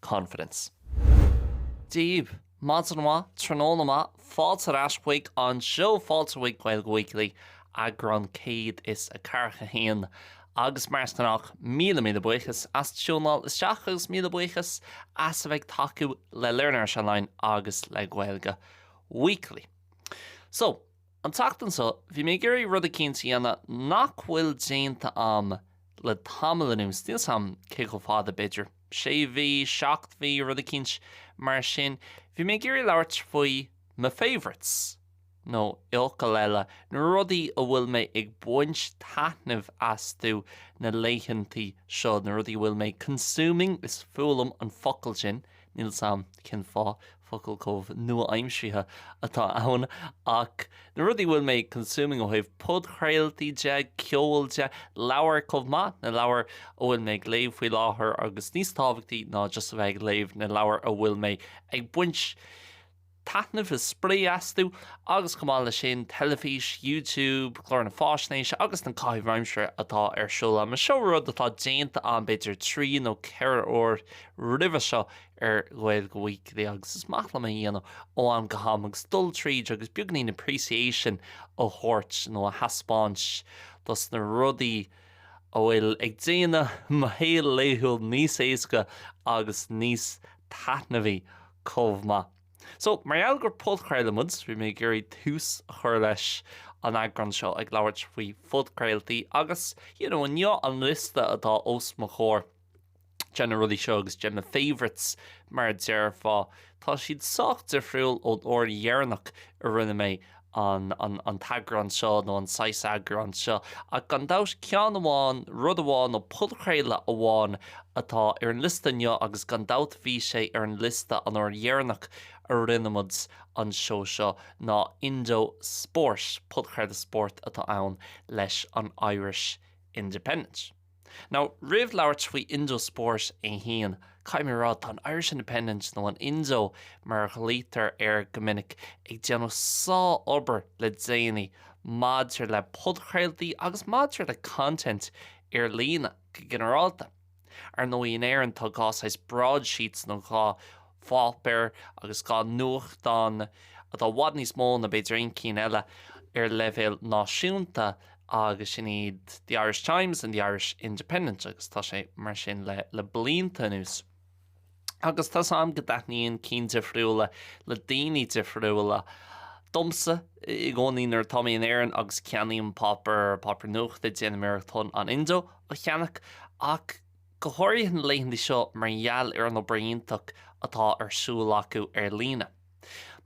confidence. Daoibh, maidin mhaith, tráthnóna maith, fáilte ar ais chuig an seó fáilte chuig Gaeilge Weekly, eagrán 141. Agus mar is gnách, míle míle buíochas as tiúnáil isteach agus míle buíochas as a bheith ag tacú le Learn Irish Online agus le Gaeilge Weekly. So, An tseachtain seo, bhí mé ag iarraidh rud eicínt a dhéanamh nach bhfuil déanta a'm le tamall anuas, níl 's a'm cé chomh fada, b'fhéidir sé mhí, seacht mhí, rud eicínt mar sin. Bhí mé ag iarraidh labhairt faoi my favourites, nó i bhfocail eile, na rudaí a bhfuil mé ag baint taitneamh astu na laethantaí seo, na rudaí a bhfuil mé consuming, is fuath liom an focal sin, Níl 's a'm cén fáth focal comh nua-aimseartha atá ann ach na rudaí a bhfuil mé consuming ó thaobh podchraoltaí de, ceol de, leabhair comh maith, na leabhair a bhfuil mé ag léamh faoi láthair agus níos tábhachtaí ná just a bheith ag léamh, na leabhair a bhfuil mé ag baint. taitneamh is spraoi astu agus chomh maith leis sin, teilifís, YouTube, cláracha faisnéise agus na caithimh aimsire atá ar siúl a'm. Seo rud atá déanta a'm b'fhéidir trí nó ceithre uair roimhe seo ar Gaeilge Weekly agus is maith liom é a dhéanamh ó am go ham agus dul tríd agus beagainín appreciation a thabhairt nó a thaispeáint dos na rudaí a bhfuil ag déanamh mo shaol laethúil níos éasca agus níos taitneamhaí. chomh maith. So, mar gheall gur podchraoladh muid, bhí mé ag iarraidh tús a chur leis an eagrán seo ag labhairt faoi phodchraoltaí agus, you know, inniu an liosta atá os mo chomhair de na rudaí seo agus de na favourites mar a déarfá, tá siad sách difriúil ón uair dheireanach a rinne mé an t-eagrán seo nó an saghas eagráin seo ach gan dabht ceann amháin, rud amháin nó podchraoladh amháin atá ar an liosta inniu agus gan dabht bhí sé ar an liosta an uair dheireanach a rinne muid an seó seo ná Indo Sport, podchraoladh spóirt atá ann leis an Irish Independent. Now, roimh labhairt faoi Indo Sport é féin, caithfidh mé a rá, tá an Irish Independent, nó an Indo mar a ghlaoitear air go minic, ag déanamh sár-obair le déanaí maidir le podchraoltaí agus maidir le content ar líne go ginearálta. Ar ndóigh, in Éirinn tá dhá saghas broadsheets, nó dhá pháipéar agus dhá nuachtán atá i bhfad níos mó ná b'fhéidir aon cinn eile ar leibhéal náisiúnta, agus sin iad The Irish Times and The Irish Independent agus tá sé mar sin le le blianta anuas. Agus tá 's agam go dtaitníonn cinn difriúla le daoine difriúla domsa i gcónaí nuair atá mé in Éirinn agus ceannaím páipéar, páipéar nuachta, déanaim iarracht an Indo a cheannach ach go háirithe na laethanta seo mar gheall ar an obair iontach atá ar siúl acu ar líne.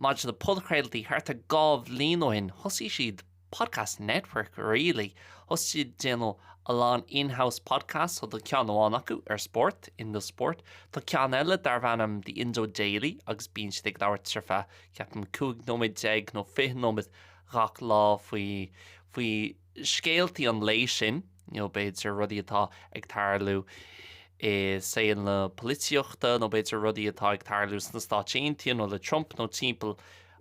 Maidir le podchraoltaí, thart ar dhá bhliain ó shin thosaigh siad. Podcast Network really thosaigh siad déanamh a lán in-house podcasts so tá ceann amháin acu ar spórt, Indo Sport, tá ceann eile darb ainm The Indo Daily agus bíonn siad ag labhairt ar feadh ceapaim 15 nóiméad nó 20 nóiméad gach lá faoi faoi scéaltaí an lae sin nó b'fhéidir rudaí atá ag tarlú i saol na polaitíochta nó b'fhéidir rudaí atá ag tarlú sna Stáit Aontaithe nó le Trump nó timpeall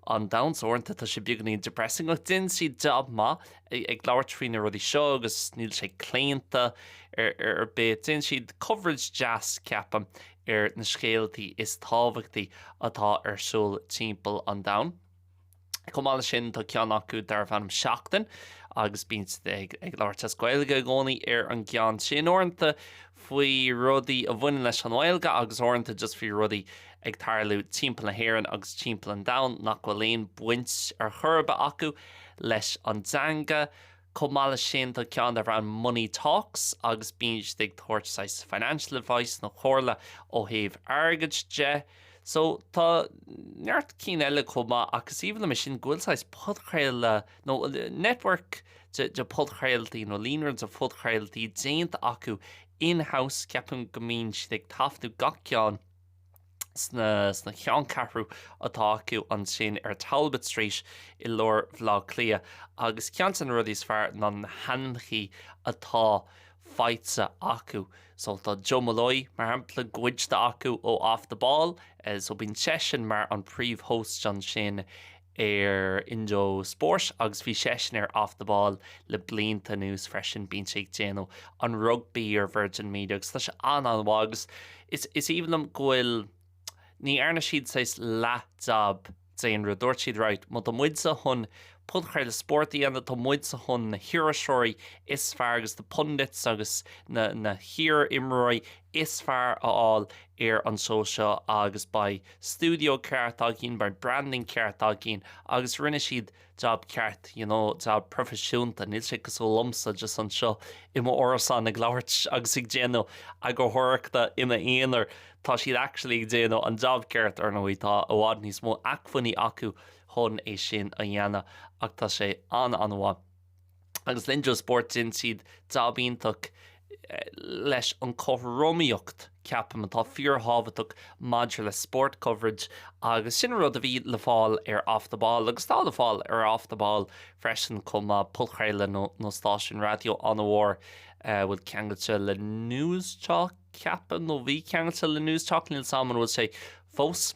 an domhain. Uaireanta tá sé beagáinín depressing ach déanann siad jab maith ag labhairt faoi na rudaí seo agus níl sé claonta ar bith. Déanann siad coverage deas ceapaim ar na scéaltaí is tábhachtaí atá ar siúl timpeall an domhain. Chomh maith leis sin tá ceann acu darb ainm Seachtain agus bíonn siad ag labhairt as Gaeilge i gcónaí ar an gceann sin. Uaireanta, faoi rudaí a bhaineann leis an nGaeilge agus uaireanta just faoi rudaí ag tarlú timpeall na hÉireann agus timpeall an domhain nach bhfuil aon baint ar chor ar bith acu leis an dteanga. Chomh maith leis sin tá ceann darb ainm Money Talks agus bíonn siad ag tabhairt saghas financial advice nó comhairle ó thaobh airgid de. So tá neart cinn eile chomh maith ach is aoibhinn liom é sin go bhfuil saghas podchraoladh nó network de podchraoltaí nó líonra de phodchraoltaí déanta acu in-house, ceapaim go mbíonn siad ag taifeadadh gach ceann sna ceanncheathrú atá acu ansin ar Talbot Street i lár Bhleá Cliath agus ceann de na rudaí is fearr ná na haíonna atá faighte acu. So tá Joe Molloy mar shampla goidte acu ó Off The Ball, so bíonn seisean mar an príomh-host ansin ar Indo Spórt agus bhí seisean ar Off The Ball le blianta anuas freisin. Bíonn sé ag déanamh an rugbaí ar Virgin Media agus tá sé an-an-mhaith agus is is aoibhinn liom go bhfuil ní dhearna siad saghas leath-jab d'aon rud. Dúirt siad right, má tá muid sa chun podchraoladh spóirt a dhéanamh, tá muid sa chun na hiriseoirí is fearr agus na pundits agus na na hiar-imreoirí is fearr a fháil ar an seó seo agus beidh, stiúideo ceart againn beidh branding ceart againn agus rinne siad jab ceart you know jab proifisiúnta níl sé cosúil liomsa just anseo i mo árasán ag labhairt agus ag déanamh eagarthóireachta i m'aonar tá siad actually ag déanamh an jab ceart ar ndóigh tá i bhfad níos mó acmhainní acu chun é sin a dhéanamh ach tá sé an an-mhaith agus Indo Sport dhein siad jab iontach leis an chothromaíocht, ceapaim, atá fíorthábhachtach maidir le sport coverage agus sin an rud a bhí le fáil ar Off The Ball agus atá le fáil ar Off The Ball freisin chomh maith, podchraoladh nó nó stáisiún raidió an-mhór a bhfuil ceangailte le Newstalk, ceapaim, nó a bhí ceangailte le Newstalk, níl 'sam an bhfuil sé fós.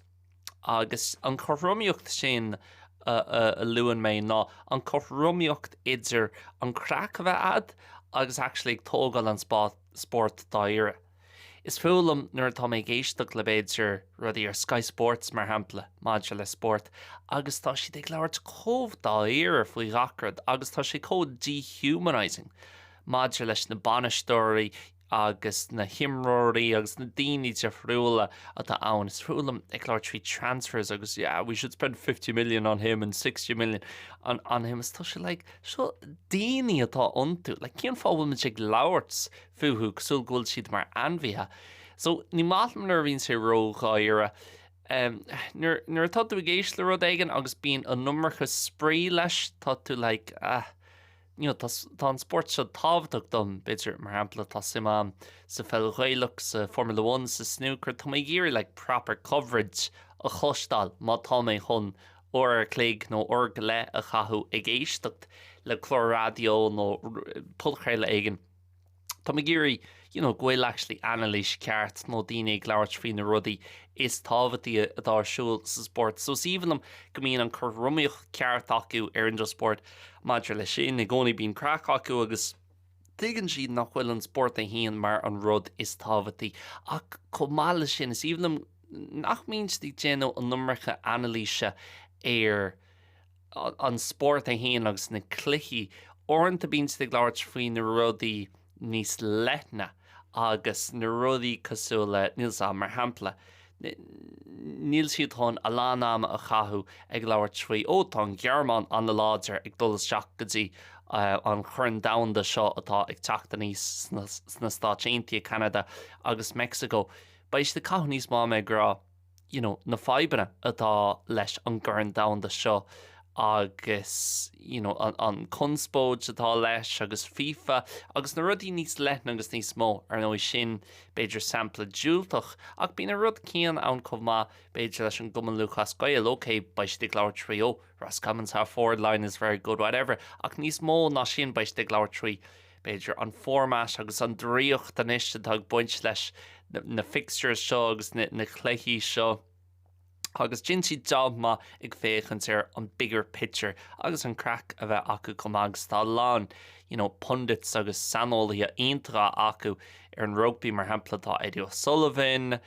Agus an cothromaíocht sin a luann mé ná an cothromaíocht idir an craic a bheith a'd agus actually ag tógáil an spórt dáiríre. Is fuath liom nuair atá mé ag éisteacht le b'fhéidir rudaí ar Sky Sports mar shampla maidir le spórt agus tá siad ag labhairt chomh dáiríre faoi ghach rud agus tá sé chomh dehumanising maidir leis na bainisteoirí agus na himreoirí agus na daoine difriúla atá ann, is fuath liom ag labhairt faoi transfers agus yeah we should spend fifty million on him and sixty million on on him agus tá sé like seo daoine atá iontu like cén fáth a bhfuil muid ag labhairt fúthu cosúil go bhfuil siad mar ainmhithe so ní maith liom nuair a bhíonn sé ródháiríre um, nuair, nuair atá tú ag éist le rud éigin agus bíonn an iomarca spraoi leis tá tú like ah you know, tá an sport seo tábhachtach dom, b'fhéidir, mar shampla, tá suim am sa pheil Ghaelach, sa Formula One, sa snooker, tá mé ag iarraidh like proper coverage a chloisteáil má tá mé chun uair ar chloig nó uair go leith a chaitheamh ag éisteacht le clár raidió nó podchraoladh éigin. Táim ag iarraidh you know go bhfuil actually anailís ceart nó daoine ag labhairt faoi na rudaí is tábhachtaí atá ar siúl sa sport. So is aoibhinn liom go mbíonn an cothromaíocht ceart acu ar Indo Sport maidir le sin i gcónaí bíonn craic acu agus tuigeann siad nach bhfuil an sport é fhéin mar an rud is tábhachtaí ach chomh maith le sin is aoibhinn liom nach mbíonn siad ag déanamh an iomarca anailíse ar an spórt é fhéin agus na cluichí. Uaireanta bíonn siad ag labhairt faoi na rudaí níos leithne agus na rudaí cosúil le, níl 's 'am, mar shampla, níl siad chun a lán ama a chaitheamh ag labhairt faoi, ó tá an Ghearmáin an-láidir ag dul isteach go dtí an Chorn Domhanda seo atá ag teacht aníos sna Stáit Aontaithe, Ceanada agus Meicsiceo. Beidh siad ag caitheamh níos mó ama ag rá. you know na fadhbanna atá leis an gCorn Domhanda seo agus you know an, an conspóid atá leis agus FIFA agus na rudaí níos leithne agus níos mó ar ndóigh sin b'fhéidir sampla diúltach ach bíonn an rud céanna ann chomh maith b'fhéidir leis an gCumann Lúthchleas Gael ok beidh siad ag labhairt trí ó Roscommon's half forward line is very good whatever ach níos mó ná sin beidh siad ag labhairt trí b'fhéidir, an format agus an draíocht anois atá ag baint leis na fixtures seo agus na cluichí seo agus déanann siad job maith ag féachaint ar an bigger picture agus an craic a bheith acu chomh maith agus tá a lán pundits agus saineolaithe iontacha acu ar an rugby mar shampla tá Eddie O'Sullivan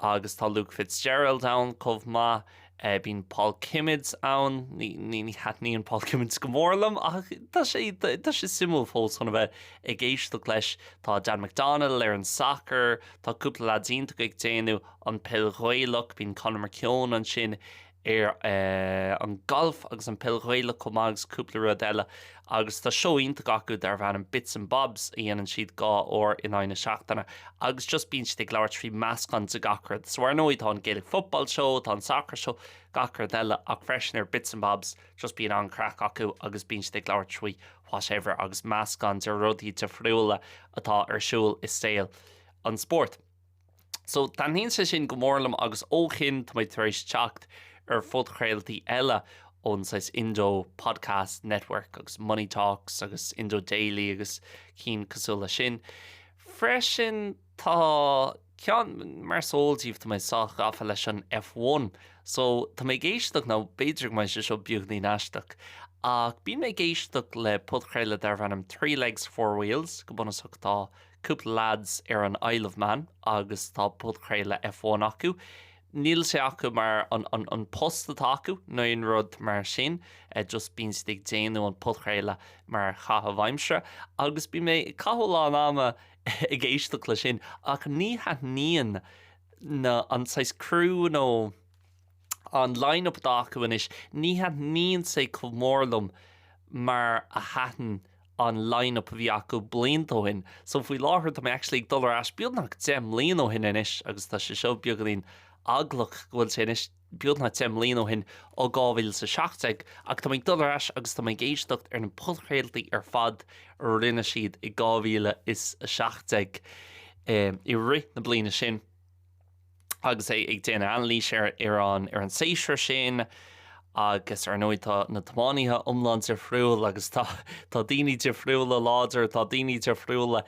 agus tá Luke Fitzgerald ann chomh maith Bíonn Paul Kimmage ann, ní thaitníonn Paul Kimmage go mór liom ach tá sé tá sé suimiúil fós chun a bheith ag éisteacht leis. Tá Dan McDonnell ar an soccer, tá cúpla leaids iontach ag déanamh an Peil Ghaelach, bíonn Conor McKeown ansin ar an Golf agus an Peil Ghaelach chomh maith agus cúpla rud eile. Agus tá seó iontach acu darb ainm Bits and Bobs a dhéanann siad dhá uair in aghaidh na seachtaine agus just bíonn siad ag labhairt trí meascán de gach rud. So ar ndóigh tá an Gaelic Football Show, tá an Soccer Show, gach rud eile ach freisin ar Bits and Bobs just bíonn an-chraic acu agus bíonn siad ag labhairt trí whatever agus meascán de rudaí difriúla atá ar siúl i saol an spóirt. So taitníonn sé sin go mór liom agus ó shin tá mé tar éis teacht ar phodchraoltaí eile ón saghas Indo Podcast Network agus Money Talks agus Indo Daily agus cinn cosúil leis sin. Freisin tá ceann, mar is eol daoibh tá mé sách gafa leis an F1 so tá mé ag éisteacht nó b'fhéidir go mbeidh sé seo beagáinín aisteach ach bím ag éisteacht le podchraoladh darb ainm Three Legs Four Wheels go bunúsach tá cúpla leaids ar an Isle of Man agus tá podchraoladh F1 acu. Níl sé acu mar an post atá acu nó aon rud mar sin, just bíonn siad ag déanamh an podchraoladh mar chaitheamh aimsire agus bím ag caitheamh a lán ama ag éisteacht le sin ach ní thaitníonn na, an saghas crew nó an line-up atá acu anois, ní thaitníonn sé chomh mór liom mar a thaitin an line-up a bhí acu blianta ó shin so faoi láthair tá mé actually ag dul ar ais beagnach deich mbliain ó shin anois agus tá sé seo beagáinín eaglach go bhfuil sé anois beagnach deich mbliain ó shin ó 2017 ach tá mé ag dul ar ais agus tá mé ag éisteacht ar na podchraoltaí ar fad a rinne siad i 2017 i rith na bliana sin. agus iad ag déanamh anailís ar an séasúr sin agus ar ndóigh tá na tiománaithe iomlán difriúil agus tá tá daoine difriúla láidir tá daoine difriúla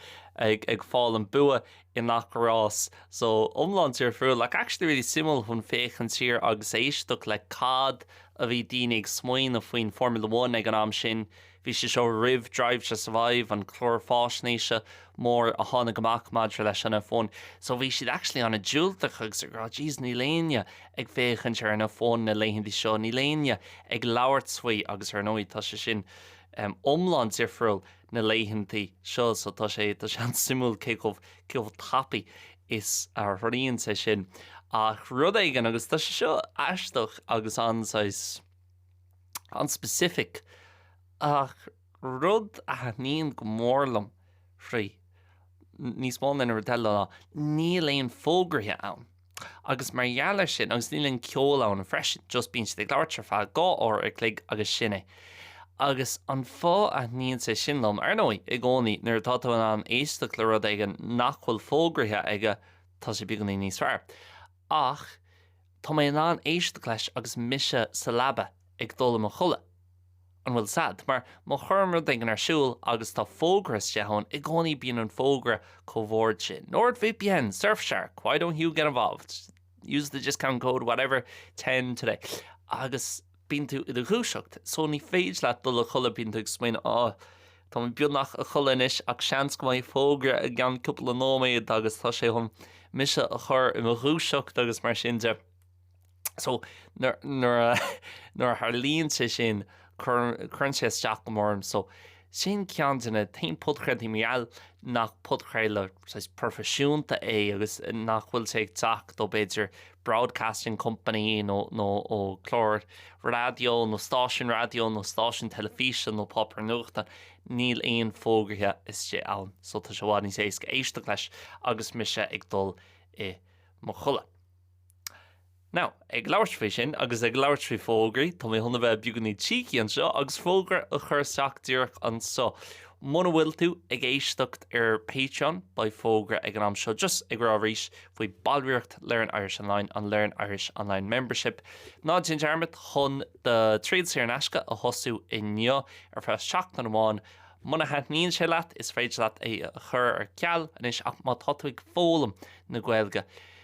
ag ag fáil an bua i ngach rás so iomlán difriúil ach actually really suimiúil chun féachaint siar agus éisteacht le cad a bhí daoine ag smaoineamh faoin Formula One ag an am sin Bhí sé seo roimh Drive to Survive, an clár faisnéise mór a tháinig amach maidir leis an F1, so bhí siad actually an-diúltach agus ag rá jeez níl éinne ag féachaint ar an F1 na laethanta seo, níl éinne ag labhairt faoi agus ar ndóigh tá sé sin iomlán difriúil na laethanta seo so tá sé an-suimiúil cé chomh tapaidh is a athraíonn sé sin ach rud éigin agus tá sé seo aisteach agus an-saghas an specific ach rud a thaitníonn go mór liom faoi, níos mó ná aon rud eile ná, níl aon fógraithe ann agus mar gheall ar sin, agus níl aon ceol ann freisin, just bíonn siad ag labhairt ar feadh dhá uair a chloig agus sin é. Agus an fáth a thaitníonn sé sin liom, ar ndóigh, i gcónaí, nuair atá tú in ann éisteacht le rud éigin nach bhfuil fógraithe aige, tá sé beagáinín níos fearr. Ach. Tá mé in ann éisteacht leis agus mise sa leaba ag dul i mo chodladh. An bhfuil 's a'd? Mar má chuirim rud éigin ar siúl agus tá fógra istigh ann, i gcónaí bíonn an fógra chomh hard sin. NordVPN! Surfshark! Why don't you get involved? Use the discount code whatever ten today. Agus. Bíonn tú i do dhúiseacht so ní féidir leat dul a chodladh bíonn tú ag smaoineamh á tá mé beagnach a chodladh anois ach seans go mbeidh fógra i gceann cúpla nóiméad agus tá sé chun mise a chur i mo dhúiseacht agus mar sin de so nuair nuair a tharlaíonn sé sin cuireann cuireann sé isteach go mór orm so Sin ceann de na haon podchraoltaí, bhuel, nach podchraoladh saghas proifisiúnta é agus nach bhfuil sé ag teacht ó b'fhéidir broadcasting company nó nó ó clár raidió nó stáisiún raidió nó stáisiún teilifíse nó páipéar nuachta. Níl aon fógraithe istigh ann so tá sé i bhfad níos éasca éisteacht leis agus mise ag dul i mo chodladh. Now, ag labhairt faoi sin agus ag labhairt faoi fógraí, tá mé chun a bheith beagáinín cheeky anseo agus fógra a chur isteach díreach anseo. Muna bhfuil tú ag éisteacht ar Patreon, beidh fógra ag an am seo just ag rá arís faoi ballraíocht Learn Irish Online, an Learn Irish Online Membership. Ná déan dearmad chun do thriail saor in aisce a thosú inniu ar feadh seachtain amháin. Muna thaitníonn sé leat, is féidir leat é a chur ar ceal anois ach má tá tú ag foghlaim na Gaeilge,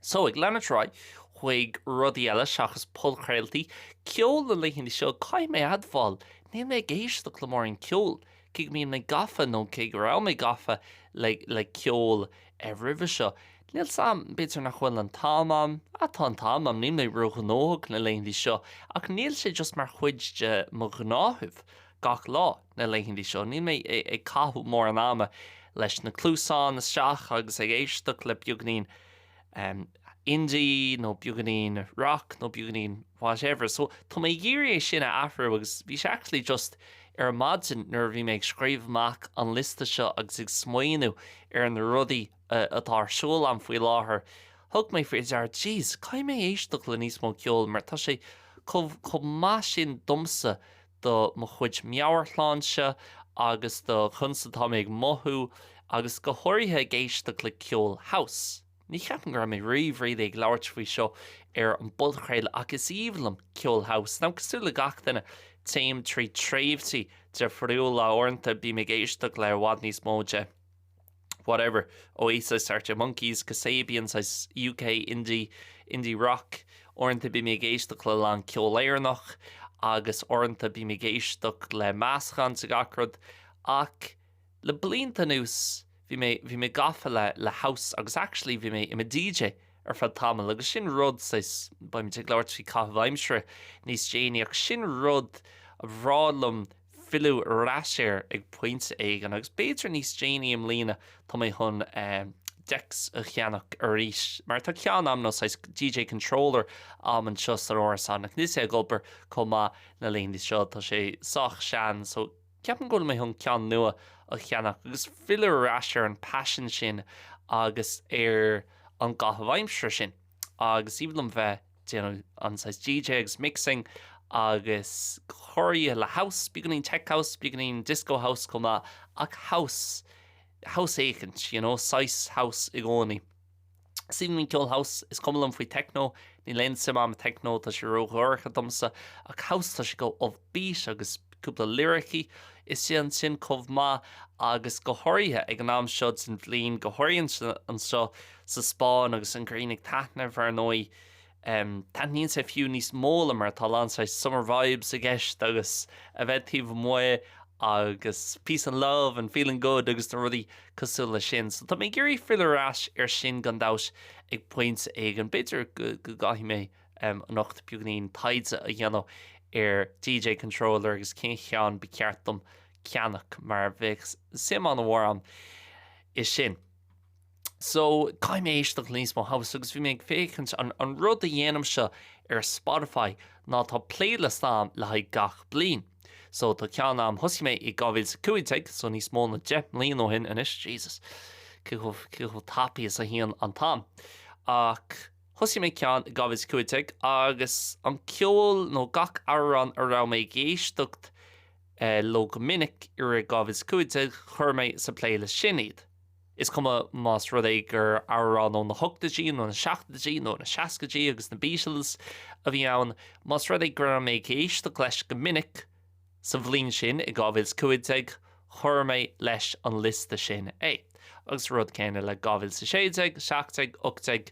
So, ag leanúint ar aghaidh chuig rudaí eile seachas podchraoltaí, ceol na laethanta seo, caithfidh mé a admháil, níl mé ag éisteacht le mórán ceoil, cé go mbíonn mé gafa, nó cé go raibh mé gafa, le, le ceol roimhe seo. Níl 's a'm, b'fhéidir nach bhfuil an t-am a'm, ah, tá an t-am a'm, níl mé ró-ghnóthach na laethanta seo, ach níl sé just mar chuid de mo ghnáthamh gach lá. na laethanta seo. Níl mé ag caitheamh mórán ama leis na cluasáin isteach agus ag éisteacht le beagainín indie nó beagainín rock nó beagainín whatever so tá mé ag iarraidh é sin a athrú agus bhí sé actually just ar maidin nuair a bhí mé ag scríobh amach an liosta seo agus ag smaoineamh ar na rudaí atá ar siúl agam faoi láthair, thug mé faoi deara, jeez, caithfidh mé éisteacht le níos mó ceoil mar tá sé chomh maith sin domsa do mo chuid meabhairshláinte agus do conas atá mé ag mothú, agus go háirithe ag éisteacht le ceol house. Ní cheapaim go raibh mé riamh really ag labhairt faoi seo ar an bpodchraoladh ach is aoibhinn liom ceol house. Now, cosúil le gach duine, téim trí tréimhsí difriúla. Uaireanta bím ag éisteacht le i bhfad níos mó de. whatever, Oasis, Arctic Monkeys, Kasabian, saghas UK indie, indie rock, uaireanta bím ag éisteacht le lán ceol Éireannach agus uaireanta bím ag éisteacht le meascán de gach rud ach le blianta anuas bhí mé, bhí mé gafa le, le house agus actually bhí mé i mo DJ ar feadh tamaill agus sin rud saghas, beimid ag labhairt faoi caitheamh aimsire níos déanaí ach sin rud ba bhreá liom filleadh ar ais air ag pointe éigin agus b'fhéidir níos déanaí i mbliana tá mé chun decks a cheannach arís mar tá ceann a'm nó saghas DJ controller a'm anseo san árasán ach níl sé ag obair chomh maith na laethanta seo tá sé sách sean so ceapaim go bhfuil mé chun ceann nua a cheannach agus filleadh ar ais ar an passion sin agus ar an gcaitheamh aimsire sin agus is aoibhinn liom bheith ag déanamh an saghas DJ agus mixing agus cóisirí le house, beagainín tech house, beagainín disco house chomh maith ach house, house éicint, you know, saghas house i gcónaí. Is aoibhinn liom ceol house, is cuma liom faoi techno, níl aon suim a'm i techno, tá sé ródhorcha domsa, ach house tá sé go upbeat agus cúpla liricí isteach ansin chomh maith agus go háirithe ag an am seo den bhliain, go háirithe anseo sa Spáinn agus an ghrian ag taitneamh ar ndóigh. Taitníonn sé fiú níos mó liom mar tá lán saghas summer vibes i gceist agus a bheith taobh amuigh agus peace and love and feeling good agus na rudaí cosúil leis sin. So tá mé ag iarraidh filleadh ar ais ar sin gan dabht ag pointe éigin. B'fhéidir go gcaithfidh mé. um, anocht beagainín taighde a dhéanamh ar DJ Controller agus cén ceann ba cheart dom ceannach mar bheadh suim an-mhór a'm ansin. So, caithfidh mé éisteacht le níos mó house agus bhí mé ag féachaint an, an rud a dhéanaimse ar Spotify ná tá playlist a'm le haghaidh gach bliain. So tá ceann a'm, thosaigh mé i 2015, so níos mó ná 10 mbliain ó shin anois, Jesus, cé chomh tapaidh is a théann an t-am. Ach Thosaigh mé ceann i 2015 agus an ceol nó gach amhrán a raibh mé ag éisteacht leo go minic i rith 2015 chuir mé sa playlist sin iad. Is cuma más rud é gur amhrán ó na hochtaidí nó na seachtaidí nó na seascaidí agus na Beatles a bhí ann, más rud é go raibh mé ag éisteacht leis go minic, Sa bhliain sin, i 2015, chuir mé leis an liosta sin é. Agus rud céanna le 2016, 17, 18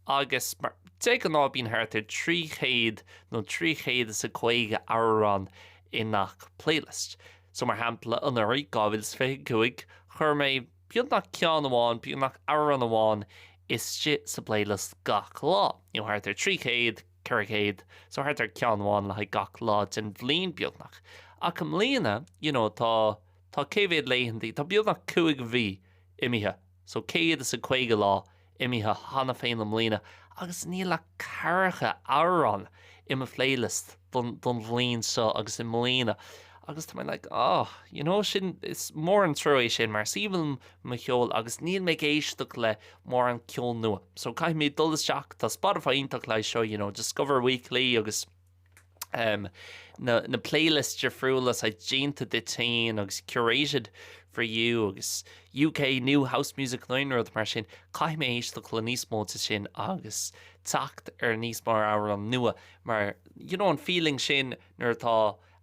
agus mar, de ghnáth bíonn thart ar 300 nó 350 amhrán i ngach playlist. So mar shampla anuraidh, 2025, chuir mé beagnach ceann amháin, beagnach amhrán amháin istigh sa playlist gach lá, you know, thart ar 300, 400, so thart ar ceann amháin le haghaidh gach lá den bhliain beagnach. Ach i mbliana, you know, tá, tá cé mhéad laethantaí, tá beagnach cúig mhí imithe, so céad is a caoga lá imithe cheana féin i mbliana agus níl ach ceathracha amhrán i mo phlaylist don bhliain seo agus i mbliana agus tá mé like, oh, you know, sin, is mór an trua é sin mar is aoibhinn liom mo cheol agus níl mé ag éisteacht le mórán ceol nua so caithfidh mé dul isteach tá Spotify iontach le haghaidh seo you know discover weekly agus um, na, na playlists difriúla seo déanta duit féin agus curated for you agus UK new house music nó aon rud mar sin caithfidh mé éisteacht le níos mó de sin agus teacht ar níos mó amhráin nua mar you know an feeling sin nuair atá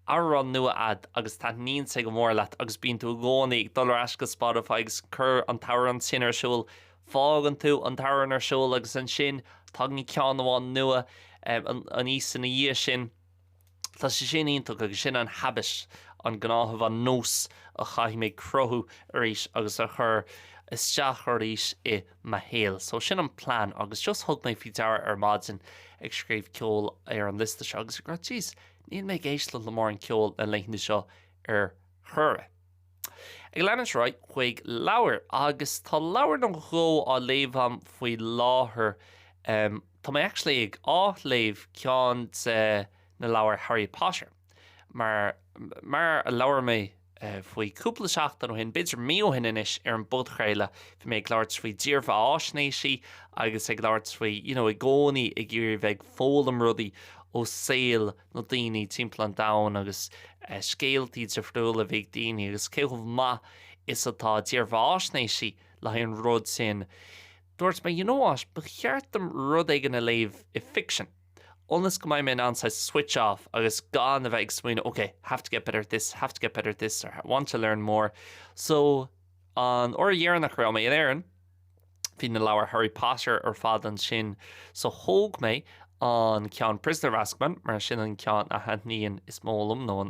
Amhrán nua a'd agus taitníonn sé go mór leat agus bíonn tú i gcónaí ag dul ar ais go Spotify agus ag cur an t-amhrán sin ar siúl. Fágann tú an t-amhrán ar siúl agus ansin tagann ceann amháin nua aníos ina dhiaidh sin. Tá sé sin iontach agus sin an habit, an gnáthamh, an nós a chaithfidh mé cruthú arís agus a chur isteach arís i mo shaol. So sin an plean agus just thug mé faoi deara ar maidin ag scríobh ceol ar an liosta seo agus ag rá jeez, Níl mé ag éisteacht le mórán ceol na laethanta seo ar chor ar bith. Ag leanúint ar aghaidh chuig leabhair, agus tá leabhar nó dhó á léamh a'm faoi láthair. Tá mé actually ag, á, léamh ceann de na leabhair Harry Potter, mar, mar a labhair mé, faoi cúpla seachtain ó shin, b'fhéidir mí ó shin anois, ar an bpodchraoladh, bhí mé ag labhairt faoi dírbheatháisnéisí agus ag labhairt faoi, you know, i gcónaí ag iarraidh bheith ag foghlaim rudaí ó saol na daoine timpeall an domhain agus scéaltaí difriúla a bhí ag daoine agus cé chomh maith is atá dírbheatháisnéisí le haghaidh an rud sin. Dúirt mé, you know what, ba cheart dom rud éigin a léamh i fiction. ionas go mbeidh mé in ann saghas switch off agus gan a bheith ag smaoineamh ok, have to get better at this, have to get better at this or want to learn more. So an uair dheireanach a raibh mé in Éirinn, bhí na leabhair Harry Potter ar fad ansin so thóg mé an ceann Prisoner of Azkaban mar sin an ceann a thaitníonn is mó liom nó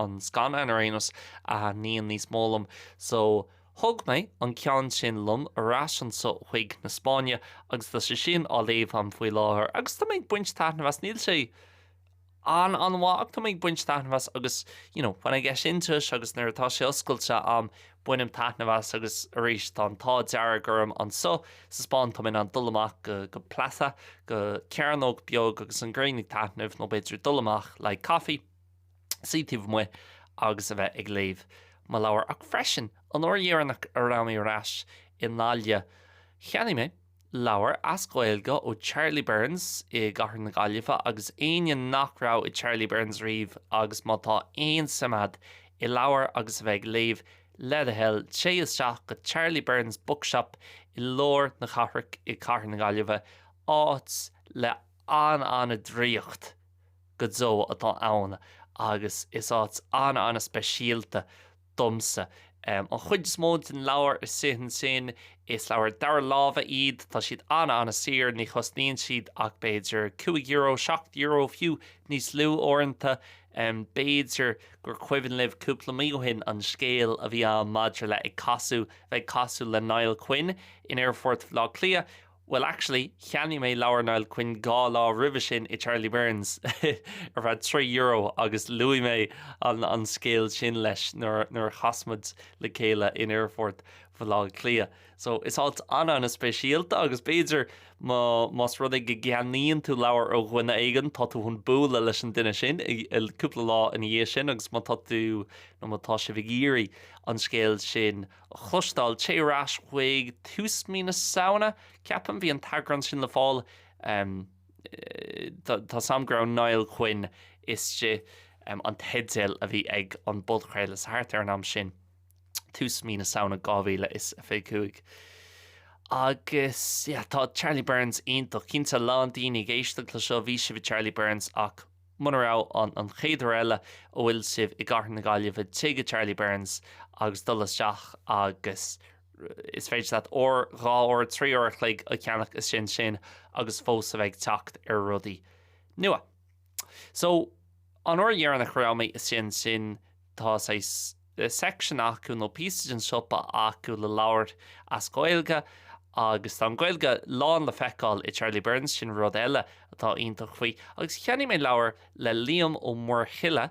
an scannán ar aon nós a thaitníonn níos mó liom so Thóg mé an ceann sin liom ar ais anso chuig na Spáinne agus tá sé sin á léamh a'm faoi láthair agus tá mé ag baint taitneamh as, níl sé an-mhaith ach tá mé ag baint taitneamh as agus no when I get into it agus nuair atá sé oscailte a'm bainim taitneamh as agus arís tá an t-ádh dearg orm anso sa Spáinn tá mé in ann dul amach go, go plaza, go cearnóg beag agus an ghrian ag taitneamh nó b'fhéidir dul amach le coffee. suí taobh amuigh agus a bheith ag léamh mo leabhar. Ach freisin, an uair dheireanach a raibh mé ar ais i nGaillimh, cheannaigh mé leabhar as Gaeilge ó Charlie Byrne's i gcathair na Gaillimhe agus éinne nach raibh i Charlie Byrne's riamh agus má tá aon suim agat i leabhair agus a bheith ag léamh, le do thoil, téigh isteach go Charlie Byrne's Bookshop i lár na cathrach i gcathair na Gaillimhe, áit le an-an-draíocht go deo atá ann agus is áit an-an-speisialta domsa. An chuid is mó de na leabhair istigh ansin. Is leabhair dara láimhe iad, tá siad an-an-saor, ní chosnaíonn siad ach b'fhéidir cúig euro, seacht euro fiú, níos lú uaireanta. B'fhéidir gur cuimhin libh cúpla mí ó shin an scéal a bhí ann maidir le ag casadh, bheith ag casadh le Niall Quinn in aerfort Bhaile Átha Cliath. Bhuel, actually, cheannaigh mé leabhar Niall Quinn dhá lá roimhe sin i Charlie Byrne's ar feadh trí euro agus luaigh mé an scéal sin leis nuair a chas muid le chéile in aerfort Bhaile Átha Cliath. So, is áit an-an-speisialta agus b'fhéidir más rud é go gceannaíonn tú leabhar ó dhuine éigin, tá tú chun bualadh leis an duine sin cúpla lá ina dhiaidh sin agus má tá tú nó má tá sibh ag iarraidh an scéal sin a chloisteáil, téigh ar ais chuig tús mí na Samhna, ceapaim, bhí an t-eagrán sin le fáil. Tá's a'm go raibh Niall Quinn istigh sa teideal a bhí ag an bpodchraoladh, so thart ar an am sin, tús mí na Samhna 2025. Agus yeah, tá Charlie Byrne's iontach, cinnte a lán daoine ag éisteacht le seo, bhí sibh i Charlie Byrne's ach Muna raibh an chéad uair eile a bhfuil sibh i gCathair na Gaillimhe téigh go Charlie Byrne's agus dul isteach agus is féidir leat uair, dhá uair, trí uair a chloig a chaitheamh istigh ansin agus fós a bheith ag teacht ar rudaí nua. So an uair dheireanach a raibh mé istigh ansin, Tá saghas section acu nó píosa den siopa acu le leabhair as Gaeilge agus tá an Ghaeilge lán le feiceáil i Charlie Byrne's sin rud eile atá iontach faoi agus cheannaigh mé leabhar le Liam Ó Muirthile,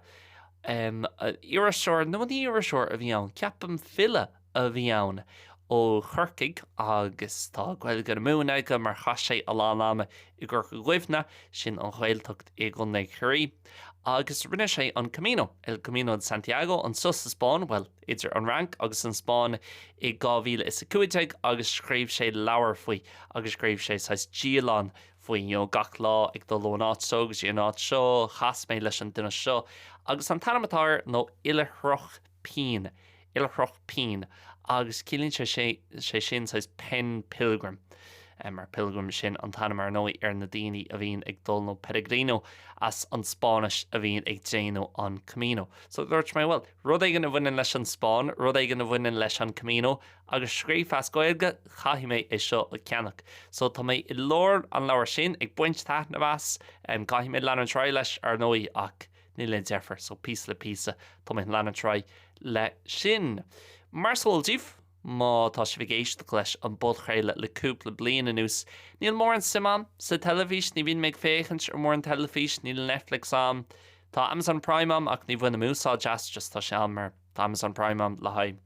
iriseoir nó ní iriseoir a bhí ann, ceapaim, file? a bhí ann ó Chorcaigh agus tá Gaeilge na Mumhan aige mar chaith sé a lán ama i gCorca Dhuibhne, sin an Ghaeltacht i gContae Chiarraí, agus rinne sé an Camino, El Camino de Santiago, anseo sa Spáinn, bhuel, idir an Fhrainc agus an Spáinn i dhá mhíle is a cúig déag agus scríobh sé leabhar faoi agus scríobh sé saghas dialann faoi, you know, gach lá ag dul ón áit seo go dtí an áit seo, chas mé leis an duine seo agus an t-ainm atá air nó Oilithreach. pin, oilithreach pinn agus ciallaíonn sé sin saghas pen pilgrim, mar pilgrim sin an t-ainm ar ndóigh ar na daoine a bhíonn ag dul nó peregrino as an Spáinnis a bhíonn ag déanamh an Camino. So dúirt mé bhuel, rud éigin a bhaineann leis an Spáinn, rud éigin a bhaineann leis an Camino agus scríofa as Gaeilge, caithfidh mé é seo a cheannach. So tá mé i lár an leabhair sin, ag baint taitneamh as, caithfidh mé leanúint ar aghaidh leis ar ndóigh ach, Níl aon deifir, so píosa le píosa tá mé ag leanúint ar aghaidh leis sin. Mar is eol daoibh má tá sibh ag éisteacht leis an bpodchraoladh le cúpla bliain anuas, níl mórán suim agam sa teilifís, ní bhíonn mé ag féachaint ar mórán teilifís, níl Netflix agam, tá Amazon Prime agam ach ní bhainim úsáid as, just tá sé ann mar tá Amazon Prime agam le haghaidh.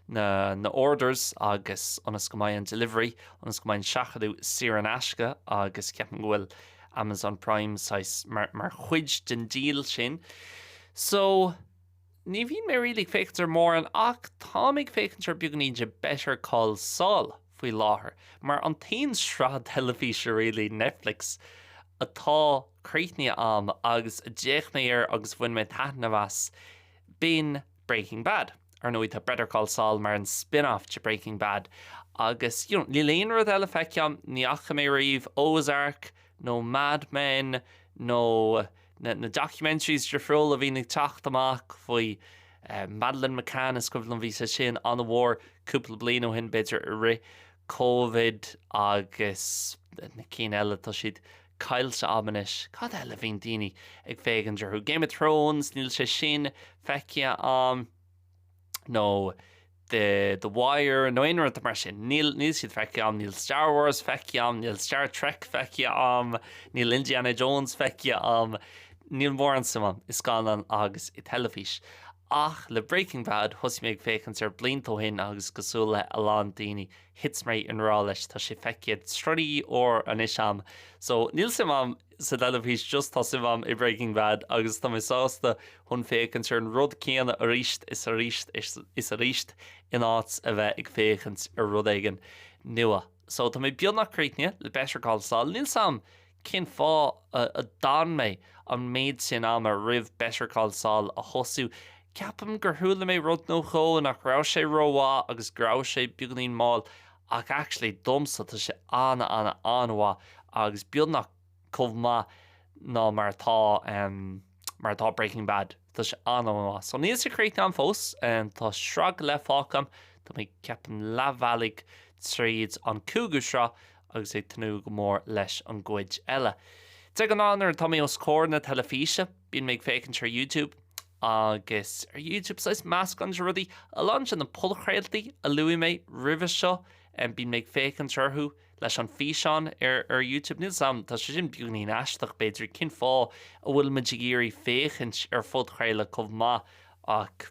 na orders agus ionas go mbeidh an delivery ionas go mbeidh an seachadadh saor in aisce agus ceapaim go bhfuil Amazon Prime saghas mar chuid den deal sin so ní bhíonn mé really ag féachaint ar mórán ach táim ag féachaint ar beagainín de Better Call Saul faoi láthair mar an t-aon sraith teilifíse really Netflix atá críochnaithe a'm agus d'fhéach mé air agus bhain mé taitneamh as B'in Breaking Bad. Ar ndóigh tá Better Call Saul mar an spin-off de Breaking Bad agus you know níl aon rud eile feicthe agam, ní fhaca mé ariamh Ozark nó Mad Men nó na na documentaries difriúla a bhíonn ag teacht amach faoi eh Madeleine McCann is cuimhin liom bhí sé sin an-mhór cúpla bliain ó shin b'fhéidir i rith Covid agus na cinn eile tá siad Caillte a'm anois. Cad eile a bhíonn daoine ag féachaint orthu? Game of Thrones? Níl sé sin feicthe a'm. Nó The The Wire nó aon rud mar sin. Níl siad feicthe a'm. Níl Star Wars feicthe a'm. Níl Star Trek feicthe a'm. Níl Indiana Jones feicthe a'm. Níl mórán suim a'm i scannáin agus i teilifís. Ach le Breaking Bad thosaigh mé ag féachaint air blianta ó shin agus cosúil le a lán daoine thit mé i ngrá leis, tá sé feicthe trí uair anois a'm. So níl suim a'm sa teilifís just tá suim a'm i Breaking Bad agus tá mé sásta chun féachaint ar an rud céanna arís is arís is arís in áit a bheith ag féachaint ar rud éigin nua. So tá mé beagnach críochnaithe le Better Call Saul, níl 's a'm Cén fáth a d'fhan mé an méid sin ama roimh Better Call Saul a thosú? Ceapaim gur chuala mé rud nó dhó, nach raibh sé rómhaith agus go raibh sé beagainín mall, ach actually domsa tá sé ana ana an-mhaith agus beagnach chomh maith nó mar atá mar atá Breaking Bad. Tá sé an-an-mhaith. So níl sé críochnaithe a'm fós. Tá sraith go leith fágtha a'm. Tá mé ceapaim leath bealaigh tríd an cúigiú sraith agus ag tnúth go mór leis an gcuid eile. De ghnáth nuair atá mé os comhair na teilifíse bíonn mé ag féachaint ar YouTube agus ar YouTube saghas meascán de rudaí. A lán de na podchraoltaí a luaigh mé roimhe seo bíonn mé ag féachaint orthu. leis an físeán ar Youtube níl 's a'm tá sé sin beagainín aisteach b'fhéidir cén fáth a bhfuil muid ag iarraidh féachaint ar phodchraoladh chomh maith ach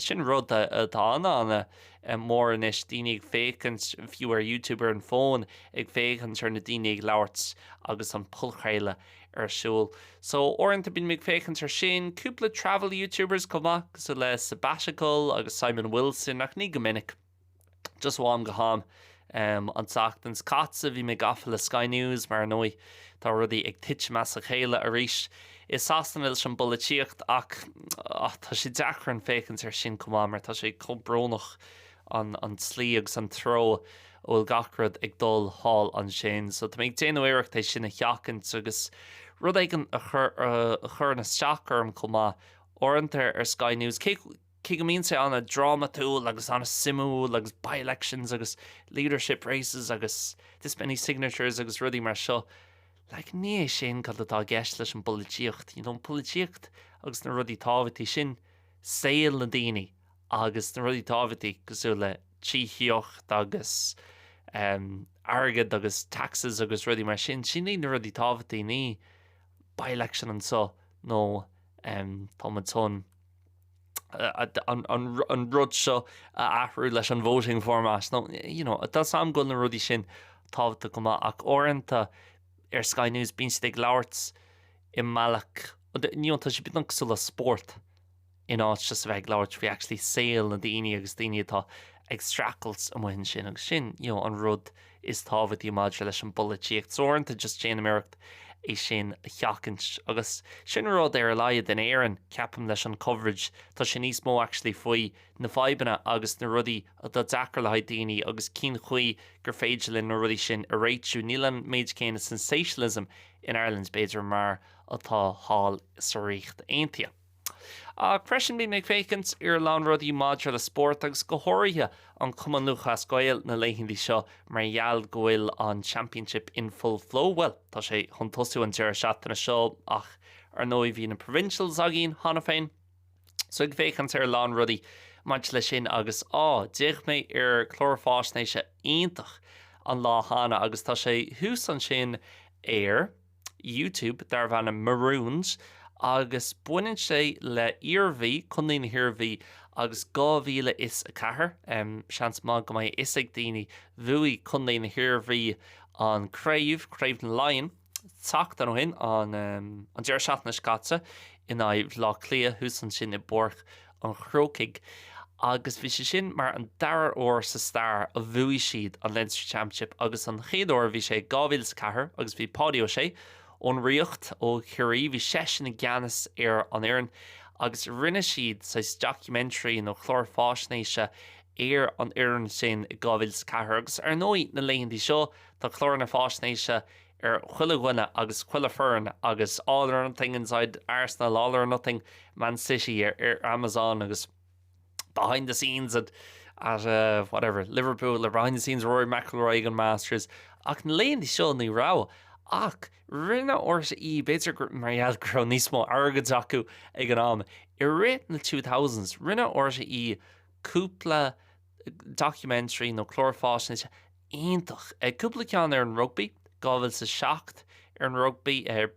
sin rud atá an-an-mhór anois daoine ag féachaint fiú ar Youtube ar an fón ag féachaint ar na daoine ag labhairt agus an podchraoladh ar siúl so uaireanta bíonn mé ag féachaint ar sin cúpla travel Youtubers chomh maith cosúil le Sabbatical agus Simon Wilson ach ní go minic Just ó am go ham um, an tseachtain seo caite bhí mé gafa le Sky News mar ndóigh tá rudaí ag tuitim as a chéile arís i Sasana leis an bpolaitíocht ach ah tá sé deacair an féachaint ar sin chomh maith mar tá sé chomh brónach an an tslí agus an treo a bhfuil gach rud ag dul thall ansin so tá mé ag déanamh iarracht é sin a sheachaint agus rud éigin a chuireann isteach orm chomh maith uaireanta ar Sky News Cé go mbíonn sé an-drámatúil agus an-suimiúil agus by-elections agus leadership races agus this many signatures agus rudaí mar seo, like ní hé sin cad atá i gceist leis an bpolaitíocht. You know, an polaitíocht agus na rudaí tábhachtacha sin saol na daoine agus na rudaí tábhachtacha cosúil le tithíocht agus ehm airgead agus taxes agus rudaí mar sin, sin iad na rudaí tábhachtacha ní by-election anso nó ehm tá muid chun. an rud seo a athrú leis an voting format. No, you know, tá 's a'm go bhfuil na rudaí sin tábhachtach chomh maith ach uaireanta ar Sky News bíonn siad ag labhairt i mbealach, you know, tá sé beagnach cosúil le spórt in áit just a bheith ag labhairt faoi actually saol na daoine agus daoine atá ag streachailt amuigh ansin agus sin, you know, an rud is tábhachtaí maidir leis an bpolaitíocht so ar aon nós, just déanaim iarracht é sin a sheachaint agus sin rud ar a laghad in Éirinn, ceapaim, leis an coverage, tá sé níos mó actually faoi na fadhbanna agus na rudaí atá deacair le haghaidh daoine agus cén chaoi gur féidir linn na rudaí sin a réitiú, níl an méid céanna sensationalism in Ireland b'fhéidir mar atá thall sa Ríocht Aontaithe. Ach freisin bhí mé ag féachaint ar a lán rudaí maidir le spórt agus go háirithe an Cumann Lúthchleas Gael na laethanta seo mar gheall go bhfuil an Championship in full flow, bhuel tá sé chun tosú an deireadh seachtaine seo ach ar ndóigh bhí na Provincials againn cheana féin so ag féachaint ar a lán rudaí maidir leis sin agus á, d'fhéach mé ar clár fáisnéise iontach an lá cheana agus tá sé thuas ansin ar YouTube darbh ainm Marooned agus baineann sé le Iarmhí, Contae na hIarmhí 2004. Seans maith go mbeidh a fhios ag daoine, bhuaigh Contae na hIarmhí an craobh, Craobh na Laighean, seachtain ó shin, an deireadh seachtaine seo caite in aghaidh Bhleá Cliath thuas ansin i bPáirc an Chrócaigh agus bhí sé sin mar an dara huair sa stair a bhuaigh siad an Leinster Championship agus an chéad uair bhí sé i 2004 agus bhí Páidí Ó Sé ón Ríocht ó Chiarraí bhí seisean i gceannas ar an fhoireann agus rinne siad saghas documentary nó clár fáisnéise ar an fhoireann sin i 2004 agus ar ndóigh na laethanta seo tá cláranna fáisnéise ar chuile dhuine agus chuile foireann agus all or nothing inside Arsenal, all or nothing Man City ar Amazon agus behind the scenes at at uh, whatever Liverpool or behind the scenes Rory McIlroy ag an Masters ach na laethanta seo ní raibh ach rinne RTÉ b'fhéidir mar gheall go raibh níos mó airgid acu ag an am i rith na 2000s rinne RTÉ cúpla documentary nó clár fáisnéise iontach. Cúpla ceann ar an rugbaí, 2007 ar an rugbaí,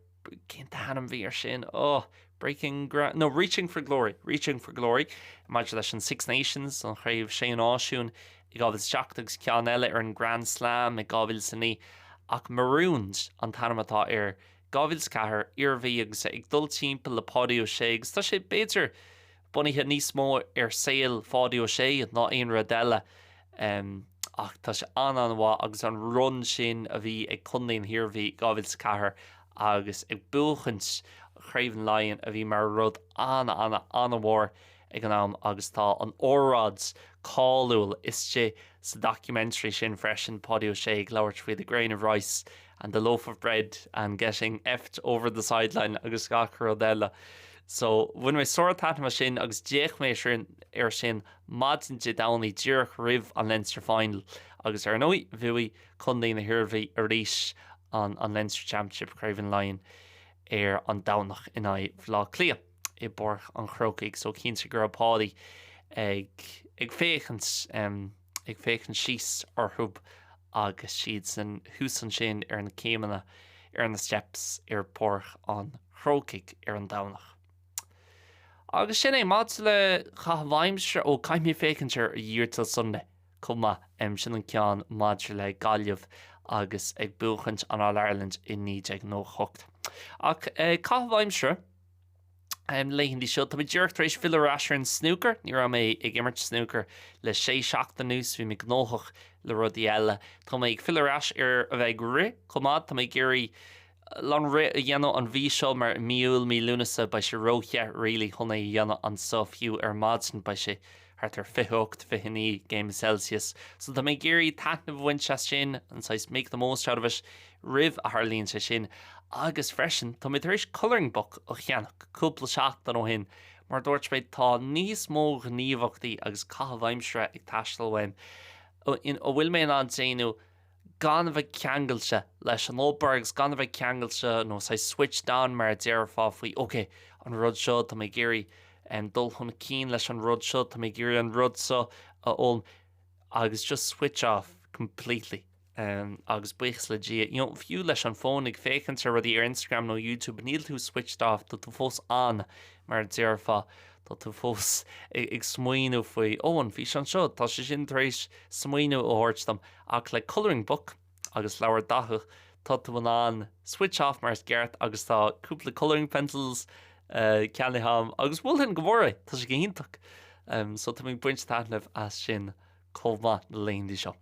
cén t-ainm bhí ar sin? Oh, Breaking Ground, no, Reaching for Glory, Reaching for Glory maidir leis an Six Nations, an Chraobh Sé Náisiún, i 2007 agus ceann eile ar an Grand Slam i 2009. Ach Marooned an t-ainm atá air, 2004, Iarmhí agus ag dul timpeall le Páidí Ó Sé agus tá sé b'fhéidir bunaithe níos mó ar saol Pháidí Ó Sé ná aon rud eile ach tá sé an-an-mhaith agus an run sin a bhí ag contae na hIarmhí i 2004 agus ag buachaint Craobh na Laighean a bhí mar rud an-an-an-mhór ag an am agus tá an óráid cáiliúil istigh sa documentary sin freisin, Páidí Ó Sé ag labhairt faoi The Grain of Rice. and the loaf of bread and getting effed over the sideline agus gach rud eile so bhain mé sártaitneamh as sin agus d'fhéach mise ar sin maidin Dé Domhnaigh díreach roimh an Leinster Final agus ar ndóigh bhuaigh Contae na hIarmhí arís an an Leinster Championship Craobh Laighean ar an Domhnach in aghaidh Bhaile Átha Cliath i bPáirc an Chrócaigh so cinnte go raibh Páidí ag ag féachaint um ag féachaint síos orthu agus iadsan thuas ansin ar na céimeanna, ar na steps ar Pháirc an Chrócaigh ar an Domhnach. Agus sin é. Maidir le caitheamh aimsire, ó caithfidh mé féachaint ar Year 'til Sunday chomh maith, sin an ceann maidir le Gaillimh agus ag buachaint an All Ireland i 1998. Ach caitheamh aimsire. Na laethanta seo tá mé díreach tar éis filleadh ar ais ar an snúcar. Ní raibh mé ag imirt snúcair le sé seachtaine anuas, bhí mé gnóthach le rudaí eile. Tá mé ag filleadh ar ais ar a bheith ag rith chomh maith. Tá mé ag iarraidh a lán rith a dhéanamh an mhí seo mar i mí Iúil, mí Lúnasa beidh sé ró-the, really, chun é a dhéanamh anso fiú ar maidin beidh sé thart ar 28, 29 céim Celsius, so tá mé ag iarraidh taitneamh a bhaint as sin, an saghas make the most out of it roimh a tharlaíonn sé sin. Agus freisin, tá mé tar éis colouring book a cheannach cúpla seachtain ó shin mar dúirt mé tá níos mó gníomhaíochtaí agus caitheamh aimsire ag teastáil uaim a bhfuil mé in ann déanamh gan a bheith ceangailte leis an obair agus gan a bheith ceangailte nó saghas switched on mar a déarfá faoi ok, an rud seo, tá mé ag iarraidh dul chun cinn leis an rud seo, tá mé ag iarraidh an rud seo a fhoghlaim agus just switch off completely agus buíochas le Dia, you know fiú leis an fón ag féachaint ar rudaí ar Instagram nó Youtube níl tú switched off, tá tú fós on mar a déarfá, tá tú fós ag smaoineamh faoi ó an físeán seo, tá sé sin tar éis smaoineamh a thabhairt dom. Ach le colouring book agus leabhar daite tá tú in ann switch off mar is ceart agus tá cúpla colouring pencils ceannaithe agam agus mholfainn go mór é, tá sé go hiontach. So tá mé ag baint taitnimh as sin chomh maith na laethanta seo.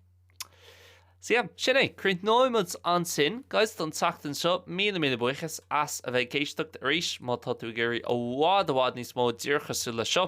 So yeah, sin é, críochnóidh muid ansin guys don tseachtain seo, míle míle buíochas as a bheith ag éisteacht arís, má tá tú ag iarraidh i bhfad i bhfad níos mó díreach cosúil leis seo,